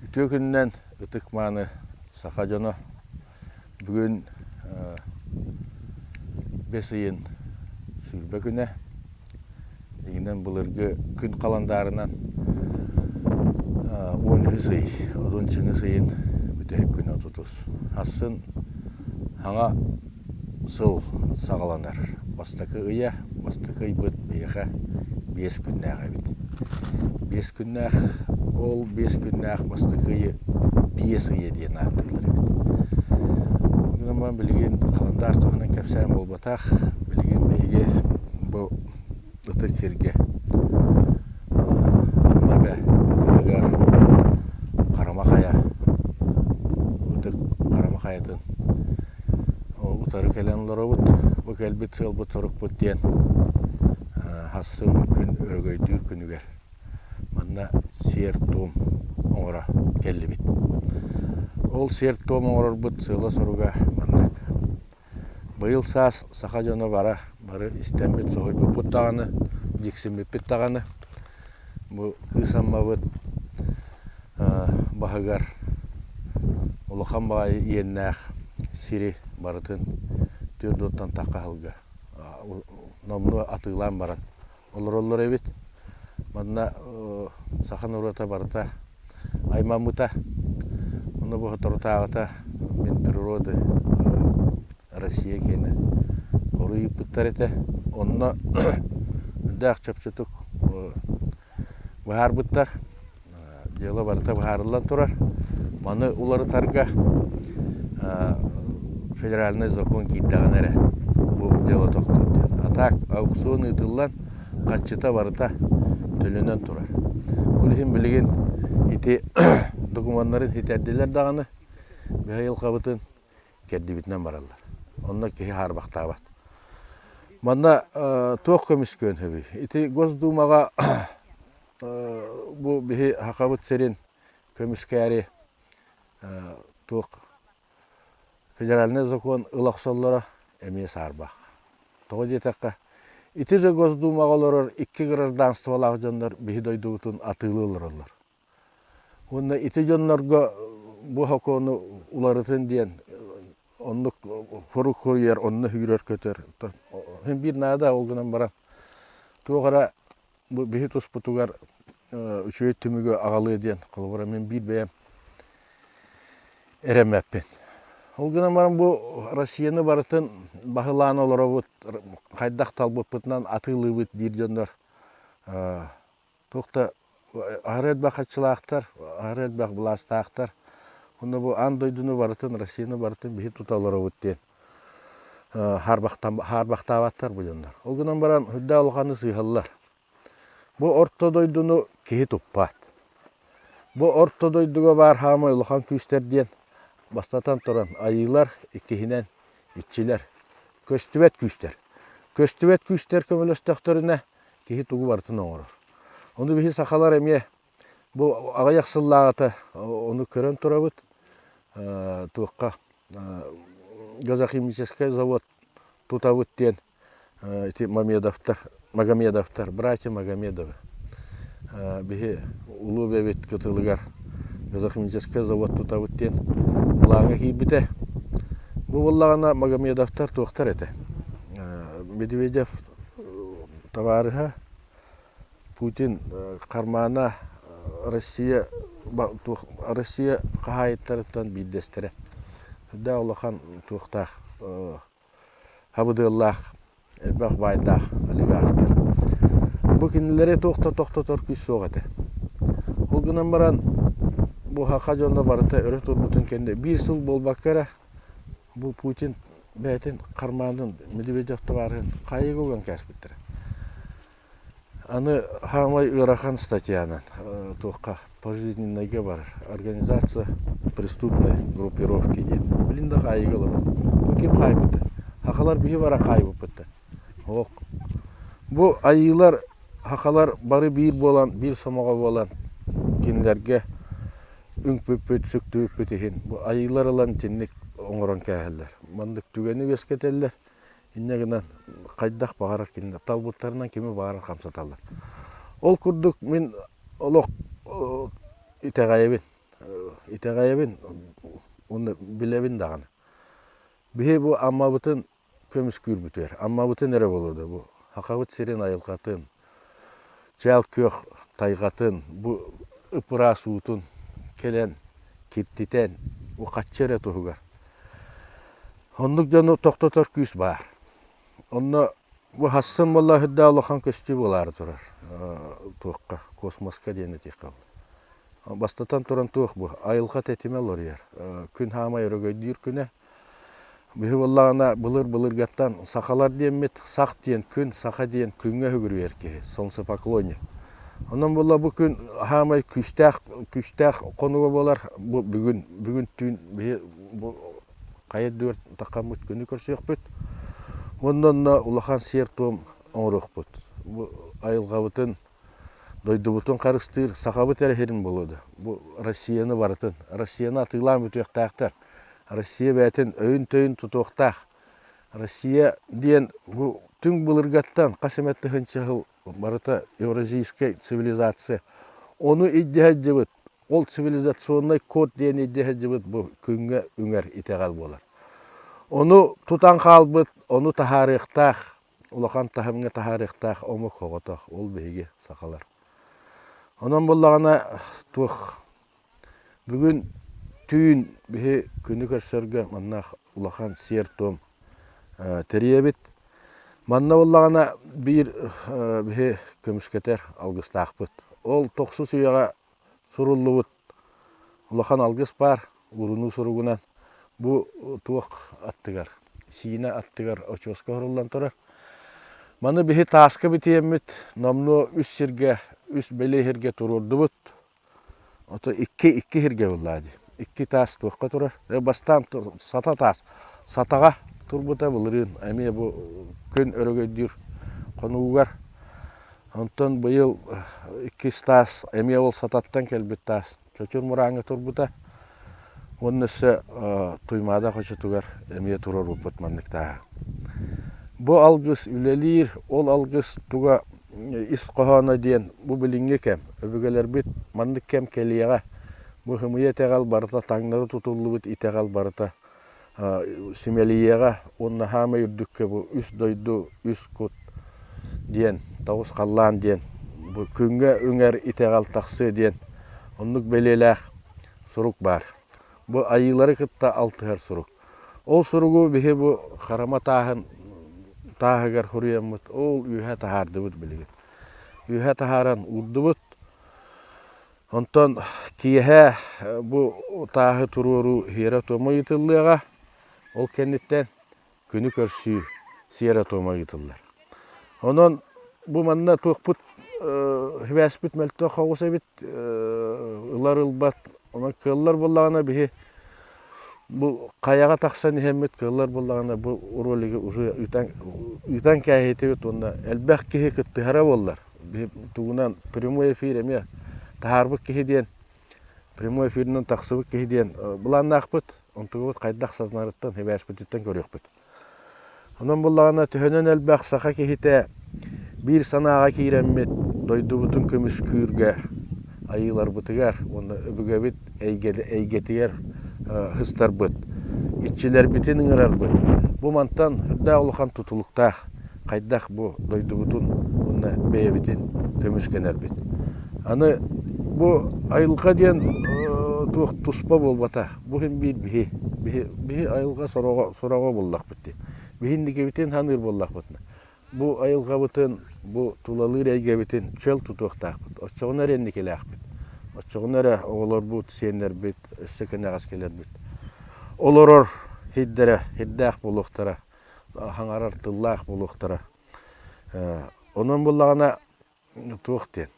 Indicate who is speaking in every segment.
Speaker 1: Үтүө күнүнэн ытык-мааны саха дьоно бүгүн бэс ыйын сүүрбэ күнэ. Игинэн былыргы күн халандаарынан он үһүс ый, отун чыҥыс ыйын бүтэһик күнэ отутус. Ахсын хаҥа Сыл саҕаланар. Бастакы ыйа, бастакы ыйбыт биһиэхэ биэс күннээх эбит. Биэс күннээх, ол биэс күннээх бастакы ыйы биэс ыйы диэн ааттыыллар эбит. Аны билигин календарь туһунан кэпсээн буолбатах. Билигин биһиги бу ытык сиргэ Амма Эбэ ситимигэр Харама Хайа ытык Харама Хайатын утары кэлэн олоробут. Бу кэлбит сыалбыт сорукпут диэн хассын күн өрөгөйдүүр күнүгэр манна сиэр-туом оҥоро кэллибит. Ол сиэр-туом оҥорорбут сыала-соруга маннык. Быйыл саас саха дьоно бара бары истэммит, соһуйбуппут даҕаны, дьиксиммиппит даҕаны, бу кыыс Аммабыт баһыгар улахан баҕайы иэннээх сири барытын түөрт уоттан тахха аһылга номнуо атыылаан баран олороллор эбит манна саха норуота барыта аймаммыта онно боторутааҕыта мин природы россия киэнэ хоруйуппуттар этэ онно үрдээх чопчутук быһаарбыттар дело барыта быһаарыллан турар. Маны уларытарга федеральный закон киирдэҕинэ эрэ бу дело тохтуур диэн. А так аукцион ыытыллан хаччыта барыта төлөнөн турар. Ол иһин билигин ити докумуоннарын хитэрдилэр даҕаны быйылҕабытын кэрдибитинэн бараллар. Онно киһи хаарбахтаабат. Манна туох көмүскүөн сөбүй? Ити Госдумаҕа Бу биһи Сахабыт сирин көмүскээри туох федеральнай закон ыл охсоллоро эмиэ саарбах. Тоҕо диэтэххэ, ити же Госдумаҕа олорор икки гражданстволаах дьоннор биһи дойдубутун атыылыы олороллор. Уонна ити дьоннорго бу сокуону уларытын диэн оннук хорук хоруйар, онно сүүрэр-көтөр. Син биир наада ол гынан баран туох эрэ Бу биһи туспутугар үчүгэй түмүгү аҕалыа диэн, холобура, мин биир бэйэм эрэммэппин. Ол гынан баран бу Россияны барытын баһылаан олоробут, хайдах талбыппытынан атыылыыбыт диир дьоннор туох да аһары элбэх хаччылаахтар, аһары элбэх былаастаахтар. Онно бу аан дойдуну барытын, Россияны барытын биһи тута олоробут диэн хаарбахтаабаттар бу дьоннор. Ол гынан баран үрдээх улаханны сыыһаллар. Бу орто дойдуну киһи туппат. Бу орто дойдуга баар хаамай улахан күүстэр диэн бастатан туран айыылар иккиһинэн иччилэр. Көстүбэт күүстэр. Көстүбэт күүстэр көмөлөстөхтөрүнэ киһи тугу барытын оҥорор. Ону биһи сахалар эмиэ Бу аҕыйах сыллааҕыта ону көрөн турабыт, туохха газохимическай завод тутабыт диэн ити Мамедовтар, Магомедовтар, братья Магомедовы. Биһи Улуу Бэбит кытылыгар газохимическай завод тутабыт диэн былааҥҥа киирбитэ. Бу буоллаҕына Магомедовтар туохтар этэ? Медведев табаарыһа Путин хармаана Россия Россия хаһаайыттарыттан биирдэстэрэ. Үрдээх улахан туохтаах хабыдыаллаах, элбэх баайдаах олигархтар. Бу кинилэри туох да тохтотор күүс суох этэ. Ол гынан баран буһаха дьоно барыта өрө турбутун кэннэ биир сыл буолбакка эрэ бу Путин бэйэтин хармаанын Медведев табаарыһын хайыга уган кээспиттэрэ. Аны хаамай ыарахан статьянан туохха пожизненнайга барар организация преступной группировки диэн билин да хаайыыга олорон бу ким хаайбыта хахалар биһи бара хаайбыппыттан оһох бу айыылар хахалар бары биир буолан биир сомоҕо буолан кинилэргэ үҥпүппүт сүктүбүппүт иһин бу айыылар ылан итинник оҥорон кээһэллэр маннык түгэни үөскэтэллэр иннэ гынан хайдах баҕарар ким талбыттарынан кими баҕарар хамсаталлар. Ол курдук мин олох итэҕэйэбин итэҕэйэбин уонна билэбин даҕаны биһи бу аммабытын көмүскүүр бүтүөр аммабытын эрэ буолуо да бу сирин айылҕатын чээл күөх тайҕатын, бу ып-ыраас уутун кэлэн киртитэн ухаччы эрэ туһугар. Оннук дьону тохтотор күүс баар. Онно бу хассын буоллаһырдаа улахан көстүү буолаары турар. туохха, космоска диэн этиэххэ бастатан туран туох бу айылҕа тэтимэ олоруйар. күн хаамай өрөгөйдүүр күнэ Биһи буоллаҕына былыр-былыргаттан сахалар диэммит сах диэн күн саха диэн күҥҥэ үгүрүйэр киһи солнцепоклонник. Онон буолла бу күн саамай күүстээх күүстээх хонуга буолар бу бүгүн бүгүн түүн биһи бу хайа да ытаххаммыт күнү көрсүөхпүт онно онно улахан сиэр-туом оҥоруохпут. Бу айылҕабытын Дойдубутун харыстыыр Сахабыт эрэ сирин булуо да, бу Россияны барытын, Россияны атыылаан бүтүөхтээхтэр. Россия бэйэтин өйүн-төйүн тутуохтаах. Россия диэн бу түҥ былыргаттан хас эмэ тыһыынча сыл барыта евразийскай цивилизация. Ону илдьэ сылдьыбыт, ол цивилизационнай код диэн илдьэ сылдьыбыт бу күҥҥэ үҥэр итэҕэл буолар. Ону тутан хаалбыт, ону таһаарыахтаах улахан таһымҥа таһаарыахтаах омук оҕотох, ол биһиги, сахалар. Онон буллаҕына туох бүгүн түүн биһи күнү көрсөргө манна улахан сиэр-туом тэрийэбит. Манна буллаҕына биир биһи көмүскэтэр алгыстаахпыт. Ол тохсус үйэҕэ суруллубут Улахан алгыс баар уурунуу суругунан бу туох аттыгар, сиинэ аттыгар очуоска оһоруллан турар. Маны биһи тааска битиэммит номнуо үс сиргэ, үс бэлиэ иһиргэ туруордубут. Ото икки, икки иһиргэ буллаа дии. Икки таас туохха турар? Э бастаан сата таас, сатаҕа турбута былырыын эмиэ бу күн өрөгөйдүүр хонуугар Онтон быйыл иккис таас эмиэ ол сататтан кэлбит таас чочур мурааҥҥа турбута уонна өссө Туймаада хочотугар эмиэ турар уопут маннык тааһа. Бу алгыс үлэлиир, ол алгыс туга ис хоһооно диэн бу билиҥҥи кэм, өбүгэлэрбит маннык кэм кэлиэҕэ. Бу хымыйа итэҕэл барыта таҥнары тутуллубут итэҕэл барыта Симэлийиэҕэ уонна хаамай үрдүккэ бу үс дойду, үс кут диэн тоҕус халлаан диэн бу күҥҥэ үҥэр итэҕэл тахсыа диэн оннук бэлиэлээх сурук баар. Бу айыылары кытта алтыһар сурук. Ол суругу биһи бу харама тааһын тааһыгар суруйаммыт ол үөһэ таһаардыбыт билигин. Үөһэ таһааран уурдубут. Онтон киэһэ бу утааһы туруоруу сиэрэ-туома ыытыллыаҕа. Ол кэнниттэн күнү көрсүү сиэрэ-туома ыытыллар. Онон бу манна туохпут сибээспит мөлтөх соҕус эбит, ылар ылбат, онон кыаллар буоллаҕына биһи Бу хайаҕа тахсан иһэммит кыыллар буоллаҕына бу ролигы уже ыытан ыытан кээһиитибит уонна элбэх киһи кыттыһара буоллар тугунан прямой эфир эмиэ таһаарбыт киһи диэн прямой эфиринэн тахсыбыт киһи диэн былааннаахпыт онтубут хайдах сазнарыттан хибээспититтэн көрүөхпүт Онон буллаҕына төһөнөн элбэх саха киһитэ биир санааҕа киирэммит дойдубутун көмүскүүргэ айыыларбытыгар уонна өбүгэбит эйгэтигэр һыстарбыт, иччилэрбитин ыҥырарбыт бу мантан үрдээх улахан тутулуктаах хайдах бу дойдубутун уонна бэйэбитин көмүскэнэрбит. Аны бу айылҕа диэн туох туспа буолбатах. Бу син биир биһи. Биһи, биһи айылҕа сороҕо, сураҕа буоллахпыт дии. Биһи инникибитин саныыр буоллахпытына, бу айылҕабытын, бу тулалыыр эйгэбитин чөл тутуохтаахпыт. Оччоҕуна эрэ инникилээхпит. Оччоҕуна эрэ оҕолорбут, сиэннэрбит өссө кэнэҕэс кэлэрбит олорор сирдэрэ сирдээх буолуохтара, хаҥарар тыллаах буолуохтара. Онон буоллаҕына туох диэн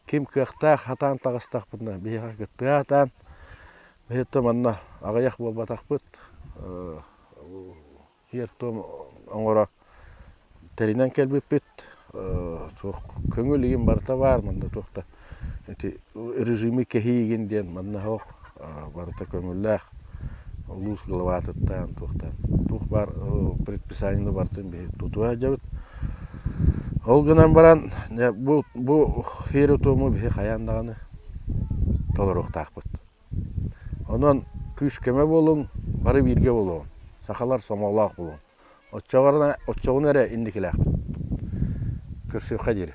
Speaker 1: ким кыахтаах сатаан таҕыстахпытына биһиэхэ тыа сатаан биһиэхэ манна аҕыйах буолбатахпыт сиэр-туом оҥоро тэринэн кэлбиппит туох көҥүл игин барыта баар манна туох да ити режими кэһиигин диэн манна барыта көҥүллээх улуус главатыттан туохтан туох баар предписание барытын биһи тутуа иһдьэбит ол гынан баран бу бу хири-туму биһи хайаан даҕаны толоруохтаахпыт онон күүс-көмө буолуҥ бары бииргэ буолуоҥ сахалар сомоҕолоох буолуҥ оччоҕуна эрэ инникилээхпит көрсүөххэ диэри